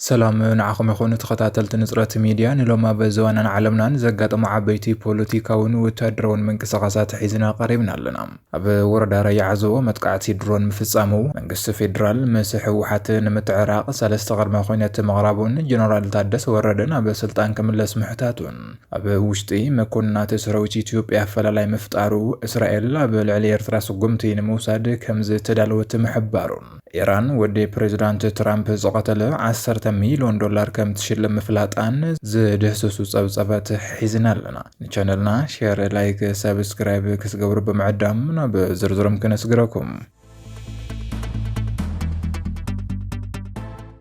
ሰላም ንዓኹም ይኹን ተኸታተልቲ ንፅረት ሚድያ ንሎም ኣብ ዘዋናን ዓለምናን ዘጋጠሙ ዓበይቲ ፖለቲካውን ወታደራውን ምንቅስቓሳት ሒዝና ቀሪብና ኣለና። ኣብ ወረዳ ራያ ዓዘቦ መጥቃዕቲ ድሮን ምፍፃሙ፣ መንግስቲ ፌዴራል ምስ ህወሓት ንምትዕራቕ ሰለስተ ቅድመ ኹነት ምቕራቡን ጀነራል ታደሰ ወረደ ናብ ስልጣን ክምለስ ምሕታቱን ኣብ ውሽጢ መኮንናት ሰራዊት ኢትዮጵያ ኣፈላላይ ምፍጣሩ እስራኤል ኣብ ልዕሊ ኤርትራ ስጉምቲ ንምውሳድ ከምዝተዳለወት ምሕባሩን ኢራን ወዲ ፕሬዝዳንት ትራምፕ ዝቐተለ ዓሰርተ ሚሊዮን ዶላር ከም ትሽልም ምፍላጣን ዝድህስሱ ጸብጸበት ሒዝና ኣለና። ንቻነልና ሼር፣ ላይክ፣ ሰብስክራይብ ክትገብሩ ብምዕዳም ናብ ዝርዝሮም ክነስግረኩም።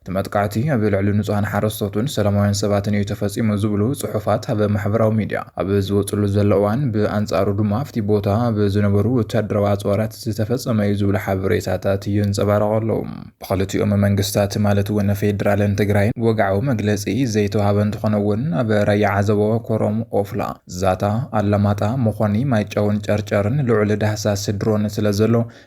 እቲ መጥቃዕቲ ኣብ ልዕሊ ንጹሃን ሓረስቶትን ሰላማውያን ሰባትን እዩ ተፈጺሙ ዝብሉ ጽሑፋት ኣብ ማሕበራዊ ሚድያ ኣብ ዝወጽሉ ዘሎ እዋን፣ ብኣንጻሩ ድማ ኣብቲ ቦታ ኣብ ዝነበሩ ወተሃደራዊ ኣጽዋራት ዝተፈጸመ እዩ ዝብሉ ሓበሬታታት ይንጸባረቑ ኣለዉ። ብኽልቲኦም መንግስታት ማለት እውን ፌደራልን ትግራይን ወግዓዊ መግለጺ ዘይተውሃበ እንተኾነ እውን ኣብ ራያ ዓዘቦ፣ ኮረም፣ ኦፍላ፣ ዛታ፣ ኣላማጣ፣ መኾኒ፣ ማይጨውን ጨርጨርን ልዑል ዳህሳስ ድሮን ስለዘሎ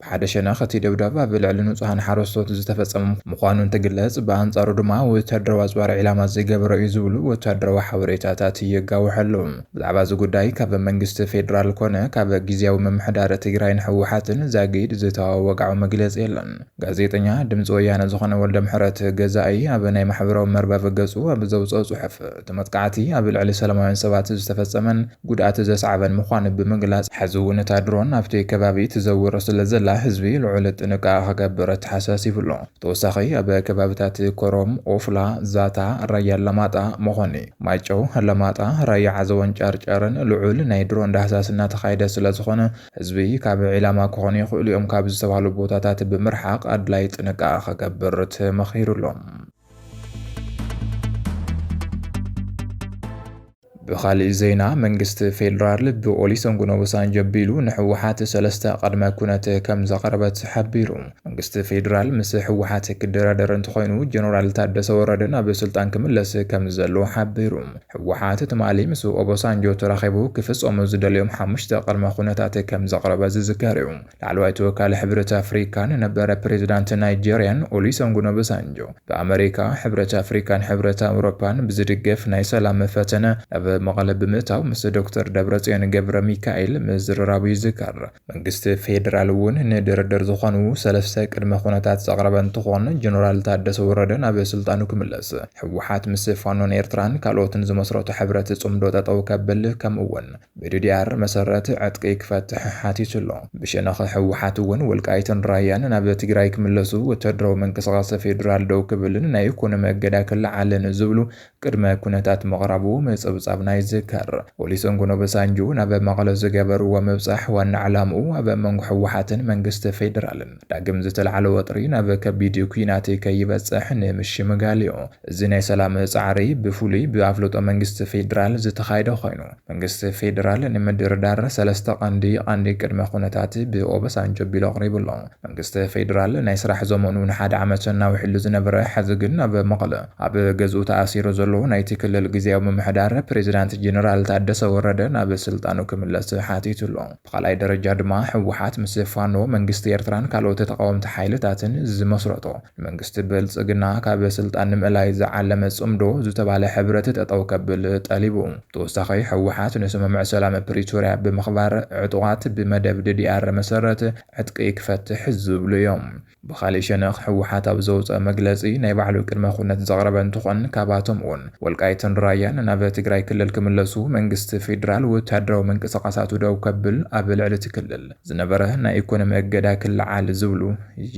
ብሓደ ሸነኽ እቲ ደብዳብ ኣብ ልዕሊ ንጹሃን ሓረስቶት ዝተፈጸመ ምዃኑ እንትግለጽ፣ ብኣንጻሩ ድማ ወተሃደራዊ ኣጽዋር ዒላማ ዝገበረ እዩ ዝብሉ ወተሃደራዊ ሓበሬታታት የጋውሕ ኣሎ። ብዛዕባ እዚ ጉዳይ ካብ መንግስቲ ፌደራል ኮነ ካብ ግዝያዊ ምምሕዳር ትግራይን ህወሓትን ዛጊድ ዝተዋህበ ወግዓዊ መግለጺ የለን። ጋዜጠኛ ድምጺ ወያነ ዝኾነ ወልደምሕረት ገዛኢ ኣብ ናይ ማሕበራዊ መርበብ ገጹ ኣብ ዘውጽኦ ጽሑፍ፣ እቲ መጥቃዕቲ ኣብ ልዕሊ ሰለማውያን ሰባት ዝተፈጸመን ጉድኣት ዘስዓበን ምዃኑ ብምግላጽ፣ ሕዚ እውን እታ ድሮን ኣብቲ ከባቢ ትዘውር ስለዘላ ህዝቢ ልዑል ጥንቃቐ ክገብር ኣተሓሳሲቡ ኣሎ። ብተወሳኺ ኣብ ከባቢታት ኮረም፣ ኦፍላ፣ ዛታ፣ ራያ ኣላማጣ፣ መኾኒ፣ ማይጨው፣ ኣላማጣ፣ ራያ ዓዘቦን ጨርጨርን ልዑል ናይ ድሮን ዳህሳስ እናተኻየደ ስለዝኾነ ህዝቢ ካብ ዒላማ ክኾኑ ይኽእሉ እዮም ካብ ዝተባህሉ ቦታታት ብምርሓቕ ኣድላዪ ጥንቃቐ ክገብር ተመኺሩ ኣሎ። ብኻሊእ ዜና መንግስቲ ፌዴራል ብኦሊሰንጉን ኦባሳንጆ ቢሉ ንሕወሓት ሰለስተ ቅድመ ኩነት ከም ዘቕረበት ሓቢሩ። መንግስቲ ፌዴራል ምስ ሕወሓት ክደራደር እንተኾይኑ ጀነራል ታደሰ ወረደ ናብ ስልጣን ክምለስ ከም ዘለዎ ሓቢሩ። ሕወሓት ትማሊ ምስ ኦባሳንጆ ተራኺቡ ክፍፀሙ ዝደልዮም ሓሙሽተ ቅድመ ኩነታት ከም ዘቕረበ ዝዝከር እዩ። ላዕለዋይ ተወካሊ ሕብረት ኣፍሪካን ነበረ ፕሬዚዳንት ናይጀርያን ኦሊሰንጉን ኦበሳንጆ ብኣመሪካ፣ ሕብረት ኣፍሪካን ሕብረት ኣውሮፓን ብዝድገፍ ናይ ሰላም ፈተነ ናብ መቐለ ብምእታው ምስ ዶክተር ደብረፅዮን ገብረሚካኤል ምዝርራቡ ይዝከር። መንግስቲ ፌዴራል እውን ንድርድር ዝኾኑ ሰለስተ ቅድመ ኩነታት ዘቕረበ እንትኾን ጀነራል ታደሰ ወረደ ናብ ስልጣኑ ክምለስ፣ ህወሓት ምስ ፋኖን ኤርትራን ካልኦትን ዝመስረቶ ሕብረት ፅምዶ ጠጠው ከብል ከምኡ እውን ብድዲኣር መሰረት ዕጥቂ ክፈትሕ ሓቲቱ ኣሎ። ብሸነኽ ህወሓት እውን ወልቃይትን ራያን ናብ ትግራይ ክምለሱ፣ ወታደራዊ ምንቅስቓስ ፌዴራል ደው ክብልን ናይ ኢኮኖሚ እገዳ ክለዓልን ዝብሉ ቅድመ ኩነታት ምቕራቡ ምፅብፃብና ይዝከር። ኦሊሰንጎን ኦበሳንጆ ናብ መቐለ ዝገበርዎ ምብፃሕ ዋና ዕላምኡ ኣብ መንጎ ህወሓትን መንግስቲ ፌዴራልን ዳግም ዝተልዓለ ወጥሪ ናብ ከቢድ ኲናት ከይበፅሕ ንምሽምጋል እዩ። እዚ ናይ ሰላም ፃዕሪ ብፍሉይ ብኣፍልጦ መንግስቲ ፌዴራል ዝተኻየደ ኾይኑ መንግስቲ ፌዴራል ንምድርዳር ሰለስተ ቀንዲ ቀንዲ ቅድመ ኩነታት ብኦበሳንጆ ኣቢሉ ኣቕሪቡ ኣሎ። መንግስቲ ፌዴራል ናይ ስራሕ ዘመኑ ንሓደ ዓመት እናውሕሉ ዝነበረ ሐዚ ግን ኣብ መቐለ ኣብ ገዝኡ ተኣሲሩ ዘሎ ናይቲ ክልል ግዝያዊ ምምሕዳር ፕሬዝዳንት ጀነራል ታደሰ ወረደ ናብ ስልጣኑ ክምለስ ሓቲቱ ኣሎ። ብኻልኣይ ደረጃ ድማ ህወሓት ምስ ፋኖ፣ መንግስቲ ኤርትራን ካልኦት ተቓወምቲ ሓይልታትን ዝመስረቶ፣ ንመንግስቲ ብልጽግና ካብ ስልጣን ንምእላይ ዝዓለመ ጽምዶ ዝተባህለ ሕብረት ጠጠው ከብል ጠሊቡ። ብተወሳኺ ህወሓት ንስምምዕ ሰላም ፕሪቶርያ ብምኽባር ዕጡቓት ብመደብ ddr መሰረት ዕጥቂ ክፈትሕ ዝብሉ እዮም። ብኻሊእ ሸነኽ ህወሓት ኣብ ዘውፀኦ መግለፂ ናይ ባዕሉ ቅድመ ኩነት ዘቕረበ እንትኾን ካብኣቶም እውን ወልቃይትን ራያን ናብ ትግራይ ክልል ክምለሱ፣ መንግስቲ ፌዴራል ወታደራዊ ምንቅስቓሳቱ ደው ከብል፣ ኣብ ልዕሊ እቲ ክልል ዝነበረ ናይ ኢኮኖሚ እገዳ ክለዓል ዝብሉ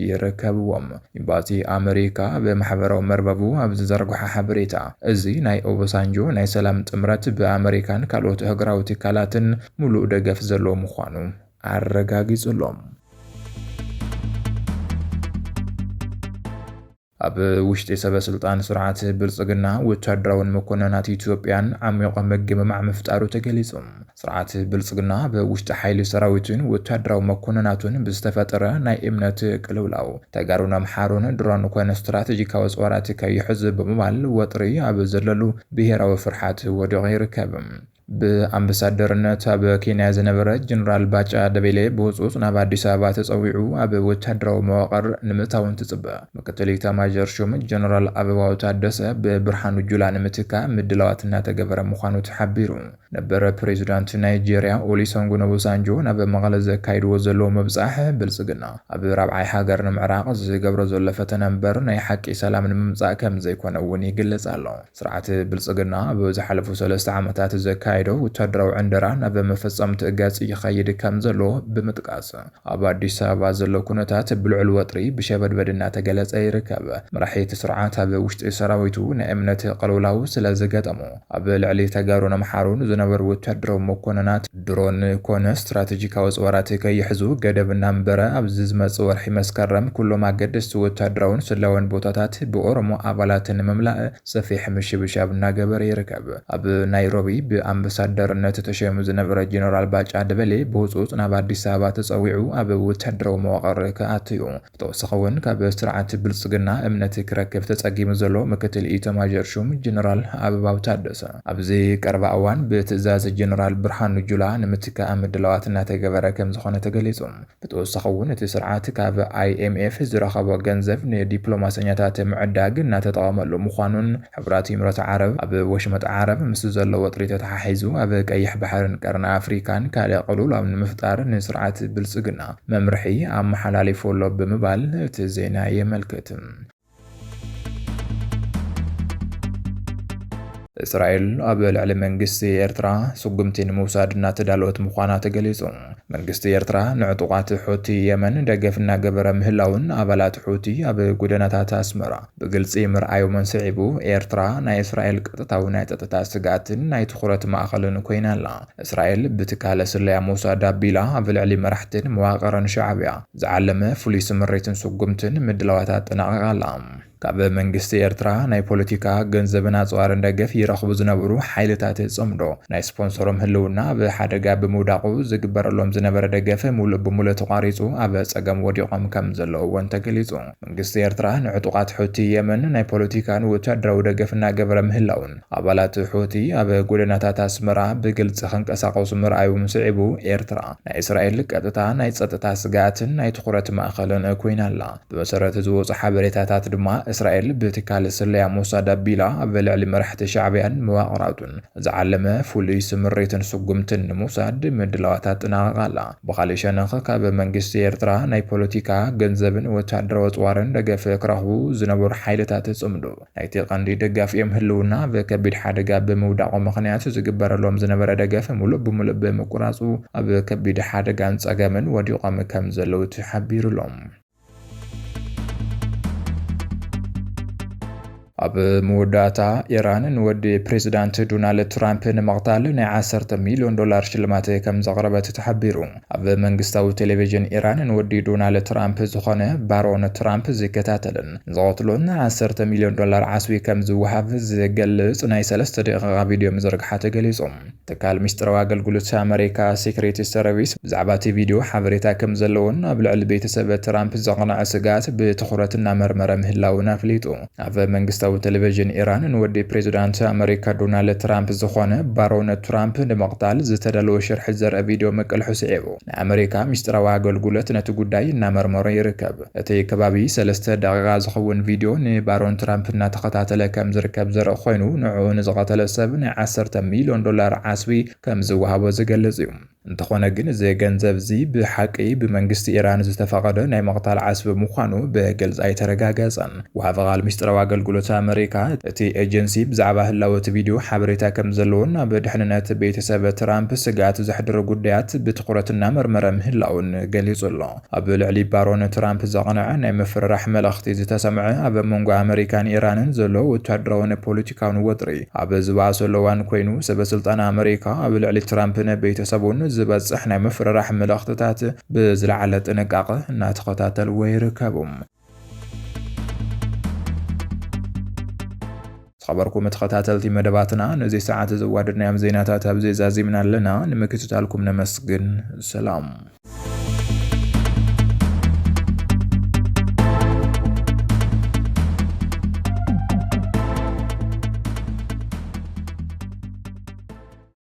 ይርከብዎም። ኢምባሲ ኣመሪካ ኣብ ማሕበራዊ መርበቡ ኣብ ዝዘርግሖ ሓበሬታ እዚ ናይ ኦበሳንጆ ናይ ሰላም ጥምረት ብኣመሪካን ካልኦት ኣህጉራዊ ትካላትን ሙሉእ ደገፍ ዘለዎ ምዃኑ ኣረጋጊጹሎም። ኣብ ውሽጢ ሰበስልጣን ስርዓት ብልጽግና ወታደራውን መኮነናት ኢትዮጵያን ዓሚቖ ምግምማዕ ምፍጣሩ ተገሊጹ። ስርዓት ብልጽግና ኣብ ውሽጢ ሓይሊ ሰራዊቱን ወታደራዊ መኮነናቱን ብዝተፈጠረ ናይ እምነት ቅልውላው ተጋሩን ኣምሓሩን ድሮን ኮነ ስትራተጂካዊ ኣጽዋራት ከይሕዙ ብምባል ወጥሪ ኣብ ዘለሉ ብሄራዊ ፍርሓት ወዲቑ ይርከብ። ብኣምበሳደርነት ኣብ ኬንያ ዝነበረ ጀነራል ባጫ ደበሌ ብህፁፅ ናብ ኣዲስ ኣበባ ተፀዊዑ ኣብ ወታደራዊ መዋቕር ንምእታው እንትፅበ፣ ምክትል ኢታማዦር ሹም ጀነራል ኣበባው ታደሰ ብብርሃኑ ጁላ ንምትካእ ምድላዋት እናተገበረ ምዃኑ ተሓቢሩ። ነበር ፕሬዚዳንት ናይጄሪያ ኦሊሰንጉን ኦቦሳንጆ ናብ መቐለ ዘካይድዎ ዘለዉ ምብፃሕ፣ ብልፅግና ኣብ ራብዓይ ሃገር ንምዕራቕ ዝገብሮ ዘሎ ፈተነ ምበር ናይ ሓቂ ሰላም ንምምፃእ ከምዘይኮነ እውን ይግለፅ ኣሎ። ስርዓት ብልፅግና ኣብ ዝሓለፉ ሰለስተ ዓመታት ዘካየዶ ወታደራዊ ዕንደራ ናብ መፈፀምትኡ ገፅ ይኸይድ ከምዘሎ ብምጥቃስ፣ ኣብ ኣዲስ ኣበባ ዘሎ ኩነታት ብልዑል ወጥሪ ብሸበድበድ እናተገለፀ ይርከብ። መራሒ እቲ ስርዓት ኣብ ውሽጢ ሰራዊቱ ናይ እምነት ቅልውላው ስለዝገጠሞ ኣብ ልዕሊ ተጋሩን ኣምሓሩን ዝነበሩ ወታደራዊ መኮንናት፣ ድሮን ኮነ ስትራተጂካዊ ኣፅዋራት ከይሕዙ ገደብ እናንበረ፣ ኣብዚ ዝመፅእ ወርሒ መስከረም ኩሎም ኣገደስቲ ወታደራውን ስለያውን ቦታታት ብኦሮሞ ኣባላት ንምምላእ ሰፊሕ ምሽብሻብ እናገበረ ይርከብ። ኣብ ናይሮቢ ብኣምበሳደርነት ተሸይሙ ዝነበረ ጀነራል ባጫ ደበሌ ብህፁፅ ናብ ኣዲስ ኣበባ ተፀዊዑ ኣብ ወታደራዊ መዋቕር ክኣቱ ዩ። ብተወሳኺ እውን ካብ ስርዓት ብልፅግና እምነት ክረክብ ተፀጊሙ ዘሎ ምክትል ኢታማዦር ሹም ጀነራል ኣበባው ታደሰ ኣብዚ ቀረባ እዋን ብትእዛዝ ጀነራል ብርሃኑ ጁላ ንምትካእ ምድላዋት እናተገበረ ከምዝኾነ ተገሊፁ። ብተወሳኺ እውን እቲ ስርዓት ካብ ኣይኤምኤፍ ዝረኸቦ ገንዘብ ንዲፕሎማሰኛታት ምዕዳግ እናተጠቐመሉ ምዃኑን ሕቡራት ኢምረት ዓረብ፣ ኣብ ወሽመጥ ዓረብ ምስ ዘሎ ወጥሪ ተተሓሒዙ ኣብ ቀይሕ ባሕርን ቀርኒ ኣፍሪካን ካልእ ቅልውላው ንምፍጣር ንስርዓት ብልፅግና መምርሒ ኣመሓላሊፉ ኣሎ ብምባል እቲ ዜና የመልክት። እስራኤል ኣብ ልዕሊ መንግስቲ ኤርትራ ስጉምቲ ንምውሳድ እናተዳለወት ምዃና ተገሊጹ። መንግስቲ ኤርትራ ንዕጡቓት ሑቲ የመን ደገፍ እናገበረ ምህላዉን ኣባላት ሑቲ ኣብ ጎደናታት ኣስመራ ብግልጺ ምርኣዮምን ስዒቡ፣ ኤርትራ ናይ እስራኤል ቀጥታዊ ናይ ጸጥታ ስግኣትን ናይ ትኹረት ማእኸልን ኮይና ኣላ። እስራኤል ብትካለ ስለያ ሞሳድ ኣቢላ ኣብ ልዕሊ መራሕትን መዋቕርን ሻዕብያ ዝዓለመ ፍሉይ ስምሪትን ስጉምትን ምድላዋት ኣጠናቒቓ ኣላ። ካብ መንግስቲ ኤርትራ ናይ ፖለቲካ፣ ገንዘብን ኣጽዋርን ደገፍ ይረኽቡ ዝነበሩ ሓይልታት ጽምዶ፣ ናይ ስፖንሰሮም ህልውና ኣብ ሓደጋ ብምውዳቑ ዝግበረሎም ዝነበረ ደገፍ ሙሉእ ብሙሉእ ተቋሪጹ ኣብ ጸገም ወዲቖም ከምዘለዉ እውን ተገሊጹ። መንግስቲ ኤርትራ ንዕጡቓት ሑቲ የመን ናይ ፖለቲካን ወተሃደራዊ ደገፍ እናገበረ ምህላዉን ኣባላት ሑቲ ኣብ ጎደናታት ኣስመራ ብግልጺ ክንቀሳቐሱ ምርኣዩን ስዒቡ ኤርትራ ናይ እስራኤል ቀጥታ ናይ ጸጥታ ስግኣትን ናይ ትኹረት ማእኸልን ኮይና ኣላ። ብመሰረት ዝወጹ ሓበሬታታት ድማ እስራኤል ብትካል ስለያ ሞሳድ ኣቢላ ኣብ ልዕሊ መራሕቲ ሻዕብያን መዋቕራቱን ዝዓለመ ፍሉይ ስምሪትን ስጉምትን ንምውሳድ ምድላዋት ኣጠናቒቓ ኣላ። ብኻልእ ሸነኽ ካብ መንግስቲ ኤርትራ ናይ ፖለቲካ፣ ገንዘብን ወተሃደራዊ ኣጽዋርን ደገፍ ክረኽቡ ዝነበሩ ሓይልታት ጽምዶ ናይቲ ቀንዲ ደጋፊኦም ህልውና ኣብ ከቢድ ሓደጋ ብምውዳቑ ምኽንያት ዝግበረሎም ዝነበረ ደገፍ ምሉእ ብምሉእ ብምቁራጹ ኣብ ከቢድ ሓደጋን ጸገምን ወዲቖም ከምዘለዉ ተሓቢሩ'ሎ። ኣብ መወዳእታ ኢራን ንወዲ ፕሬዚዳንት ዶናልድ ትራምፕ ንምቕታል ናይ 10 ሚልዮን ዶላር ሽልማት ከም ዘቕረበት ተሓቢሩ። ኣብ መንግስታዊ ቴሌቪዥን ኢራን ንወዲ ዶናልድ ትራምፕ ዝኾነ ባሮን ትራምፕ ዝከታተልን ዝቐትሎን 10 ሚልዮን ዶላር ዓስቢ ከም ዝወሃብ ዝገልጽ ናይ ሰለስተ ደቂቓ ቪድዮ ምዝርግሓ ተገሊጹ። ትካል ሚስጥራዊ ኣገልግሎት ኣመሪካ፣ ሴክሬት ሰርቪስ፣ ብዛዕባ'ቲ ቪድዮ ሓበሬታ ከምዘለዎን ኣብ ልዕሊ ቤተሰብ ትራምፕ ዘቕነዐ ስግኣት ብትኹረት እናመርመረ ምህላዉን ኣፍሊጡ። ኣብ መንግስታዊ ተለቪዥን ኢራን ንወዲ ፕሬዝዳንት ኣመሪካ ዶናልድ ትራምፕ ዝኾነ ባሮን ትራምፕ ንምቕታል ዝተዳለወ ሽርሒ ዘርኢ ቪድዮ ምቅልሑ ስዒቡ ንኣመሪካ ሚስጥራዊ ኣገልግሎት ነቲ ጉዳይ እናመርመሮ ይርከብ። እቲ ከባቢ ሰለስተ ደቒቓ ዝኸውን ቪድዮ ንባሮን ትራምፕ እናተኸታተለ ከም ዝርከብ ዘርኢ ኮይኑ፣ ንዕኡ ንዝቐተለ ሰብ ናይ ዓሰርተ ሚልዮን ዶላር ዓስቢ ከም ዝወሃቦ ዝገልጽ እዩ። እንተኾነ ግን እዚ ገንዘብ እዚ ብሓቂ ብመንግስቲ ኢራን ዝተፈቐደ ናይ ምቕታል ዓስቢ ምዃኑ ብግልጺ ኣይተረጋገጸን። ወሃቢ ቓል ምስጢራዊ ኣገልግሎት ኣመሪካ፣ እቲ ኤጀንሲ ብዛዕባ ህላወ እቲ ቪድዮ ሓበሬታ ከም ዘለዎን ኣብ ድሕንነት ቤተሰብ ትራምፕ ስግኣት ዘሕድሩ ጉዳያት ብትኹረት እናመርመረ ምህላዉን ገሊጹ ኣሎ። ኣብ ልዕሊ ባሮን ትራምፕ ዘቕነዐ ናይ ምፍርራሕ መልእኽቲ ዝተሰምዐ ኣብ መንጎ ኣመሪካን ኢራንን ዘሎ ወታደራውን ፖለቲካውን ወጥሪ ኣብ ዝበኣሰሉ እዋን ኮይኑ፣ ሰበስልጣን ኣመሪካ ኣብ ልዕሊ ትራምፕን ቤተሰቡን ዝበጽሕ ናይ ምፍርራሕ መልእኽትታት ብዝለዓለ ጥንቃቐ እናተኸታተልዎ ይርከቡ። ዝኸበርኩም ተኸታተልቲ መደባትና ነዚ ሰዓት ዘዋደድናዮም ዜናታት ኣብዚ ዛዚምና ኣለና። ንምክትታልኩም ነመስግን። ሰላም